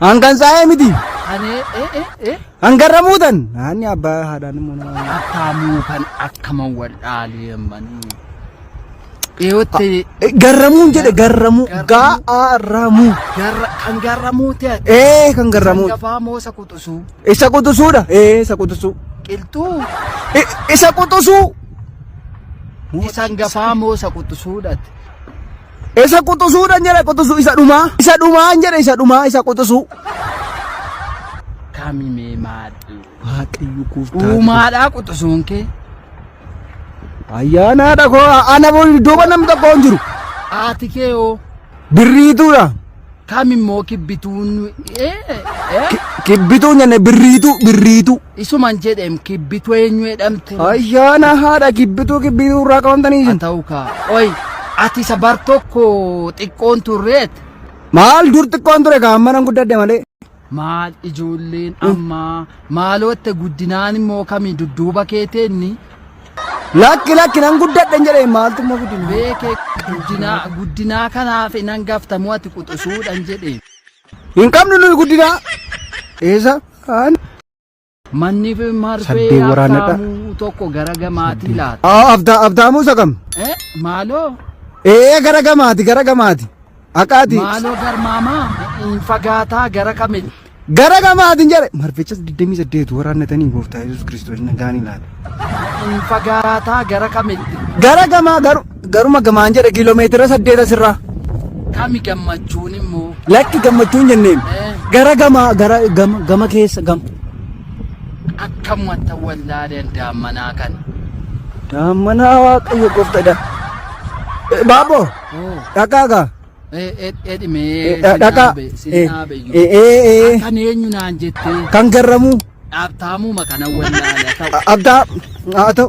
Hangan saa'ee miti. Ani eh eh eh. Hangarra muutan. Naanni abbaa haadhaan immoo nama. Akkaamuu kan akkaman wal dhaalee manii. Dhiyootti Garramuun jedhe garramuu. Gaa'aramuu. garra kan garramuu ta'e. Ee kan garramuu. Gafaa moo isa quxusuu. Isa quxusuudha. Ee isa quxusuu. Qilxuu. I- Isa quxusuu. Isan gafaa moo isa quxusuudhaati. Isa quxusuudhan jedhe quxusu isa dhumaa isa dhumaan jedhe isa dhumaa isa quxusuu. Kami mee maadhu. Waaqayyo gooftaa. Dhumaadhaa quxusuun kee. Ayyaanaadha koo ana booda iddooma nam tokko hin jiru. Haati kee hoo. Birriituudha. Kam immoo kibbituun ee, ee, Kibbituu nyanne birriituu birriituu. isuman jedhem kibbitu eenyu jedhamte. Ayyaana haadha kibbituu kibbituu irraa qabamtanii Haa isin. ta'u kaa. Oy ati isa bar tokko xiqqoon turreet. Maal dur xiqqoon ture kaan manan guddadde malee. Maal ijoolleen ammaa maalootte guddinaan immoo kami dudduuba keeteenni Lakki lakki nan guddadhe hin jedhee maaltu immoo guddina. beeke guddinaa guddinaa kanaaf nan gaftamu ati quxusuudhan jedhe. Hin qabnu nuyi guddina. Eessa? Aan. Manni fi marfee Saddee waraanadha. abdaamuu tokko gara gamaatii laata. Aa, abda abdaamuu isa kam Eh, Maaloo ee gara gamaati gara gamaati aqaati maaloo garmaamaa hin fagaataa gara kamitti. gara gamaatiin jedhe marfichas 28 waraannatanii gooftaa yesus kiristoos nagaanii laata Hin fagaataa gara kamitti. gara gamaa garu Garuma gamaan jedha kiiloomeetira saddeet asirraa. Kami gammachuun immoo. Lakki gammachuun jenneen. Eh. Gara gama gara gama gama keessa gam. Akkam wanta wallaaleen daammanaa kana. Daammanaa waaqayyo goftadha. Baaboo. Dhaqaagaa. Edhimee sin Dhaqa. dhaabe sin dhaabe iyyuu. Ee ee ee. Akkan eenyu naan jettee Kan garramu. dhaabtaamuma kana wallaala ta'u. Abdaa. Haa ta'u.